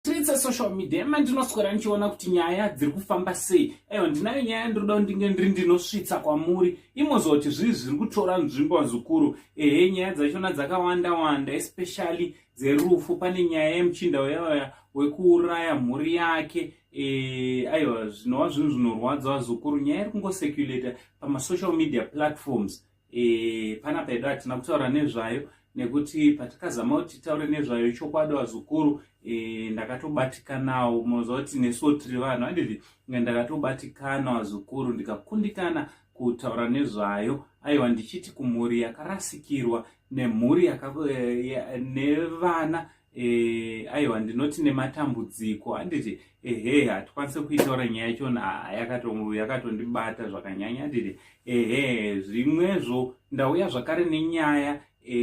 Streets a social media mandinoswera ndichiona kuti nyaya dziri kufamba sei aiwa ndinayo nyaya ndinoda kundinge ndiri ndinosvitsa kwamuri imoziva kuti zvii zviri kutora nzvimbo vazukuru ehe nyaya dzachona dzakawanda wanda especially dzerufu pane nyaya yemuchinda uyauya wekuuraya mhuri yake e, aiwa zvinova zvinhu zvinorwadza vazukuru nyaya iri kungoseculator pamasocial media platforms e, pana pedu hatina kutaura nezvayo nekuti patakazama kuti titaure nezvayo chokwadi wazukuru e, ndakatobatikanawo munoziva kuti nesuwo tiri vanhu handizvi ndakatobatikana wazukuru ndikakundikana kutaura nezvayo aiwa ndichiti kumhuri yakarasikirwa nemhuri eh, nevana e, aiwa ndinoti nematambudziko handiti ehe hatikwanise kuitaura nyaya yachona yakatondibata yakato zvakanyanya handiti ehe zvimwezvo ndauya zvakare nenyaya e,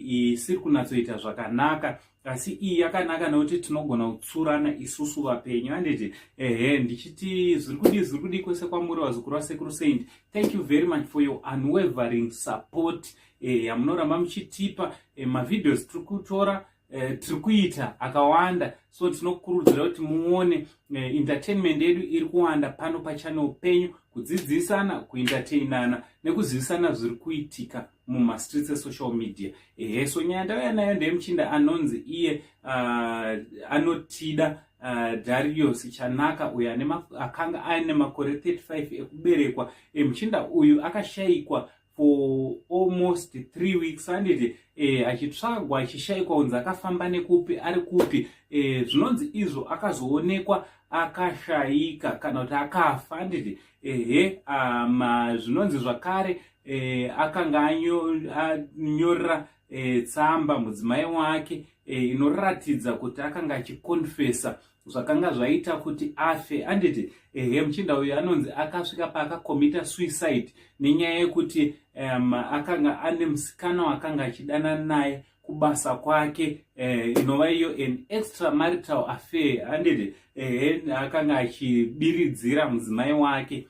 isiri kunatsoita zvakanaka asi iyi yakanaka nekuti tinogona kutsurana isusu vapenyu handiti ehe ndichiti zviri kudii zviri kudii kwese kwamuri vazukuru vasekuru saint thank you very much for your unwavering support e, yamunoramba muchitipa e, mavideos tiri kutora e, tiri kuita akawanda so tinokurudzira kuti muone e, entertainment yedu iri kuwanda pano pachannel penyu kudzidzisana kuentertainana nekuzivisana zviri kuitika mumastreets esocial media ehe so nyaya ndauya nayo ndeyemuchinda anonzi iye uh, anotida Eh, darius chanaka uyo akanga aine makore 35 ekuberekwa eh, muchinda uyu akashayikwa for almost three weeks handiti eh, achitsvagwa achishaikwa kunzi akafamba nekupi ari kupi eh, zvinonzi izvo akazoonekwa akashaika kana kuti akafa handiti ehe um, zvinonzi zvakare eh, akanga anyorera eh, tsamba mudzimai wake eh, inoratidza kuti akanga achikonfesa zvakanga zvaita kuti afe anditi ehe muchinda uyu anonzi akasvika paakakomita suicide nenyaya yekuti um, akanga ane musikana waakanga achidana naye kubasa kwake eh, inova iyo an extra marital affair anditi ehe akanga achibiridzira mudzimai wake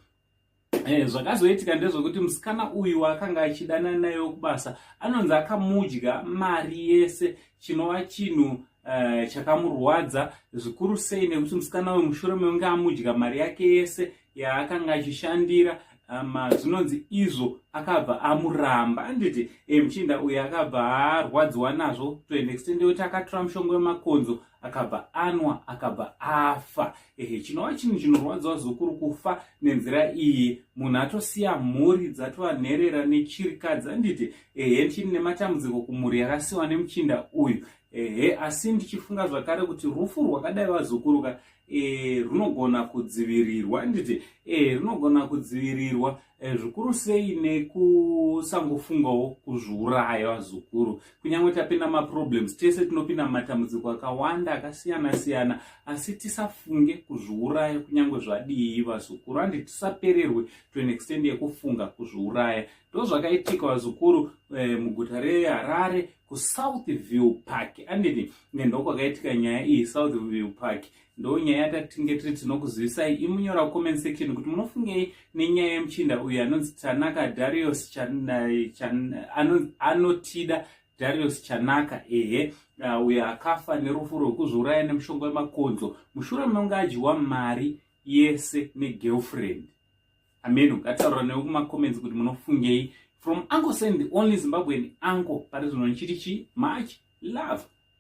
Eh, zvakazoitika ndezvekuti musikana uyu waakanga achidana nayewo kubasa anonzi akamudya mari yese chinova chinhu Eh, chakamurwadza zvikuru sei nekuti musikana uyu mushure mekunge amudya mari yake yese yaakanga achishandira um, zvinonzi izvo akabva amuramba anditi eh, muchinda uyu akabva arwadziwa nazvo to an extent yekuti akatora mushongo wemakonzo akabva anwa akabva afa ehe chinova chinhu chinorwadzawa zukuru kufa nenzira iyi munhu atosiya mhuri dzatova nherera nechirikadzi anditi ehe ndichini nematambudziko kumhuri yakasiwa nemuchinda uyu ehe asi ndichifunga zvakare kuti rufu rwakadai vazukuruka e, runogona kudzivirirwa nditi e, runogona kudzivirirwa Eh, zvikuru sei nekusangofungawo kuzviuraya vazukuru kunyange tapinda maproblems tese tinopinda mumatambudziko akawanda akasiyana siyana asi tisafunge kuzviuraya kunyange zvadii vazukuru andi tisapererwe to an extend yekufunga kuzviuraya ndo zvakaitika vazukuru eh, muguta reharare kusouth view park anditi ngendokwakaitika nyaya iyi south view park ndo nyaya yatatinge tiri tinokuzivisai imunyora kucomment section kuti munofungei nenyaya yemuchinda uyu anonzi tanaka darius eh, anotida darius chanaka ehe uh, uyo akafa nerufu rwekuzviuraya nemushonga wemakonzo mushure meunge adyiwa mari yese negirlfriend ameno ngataura newe kumacoments kuti munofungei from uncle send the only zimbabwean uncle pari zvino ndichiti chi much love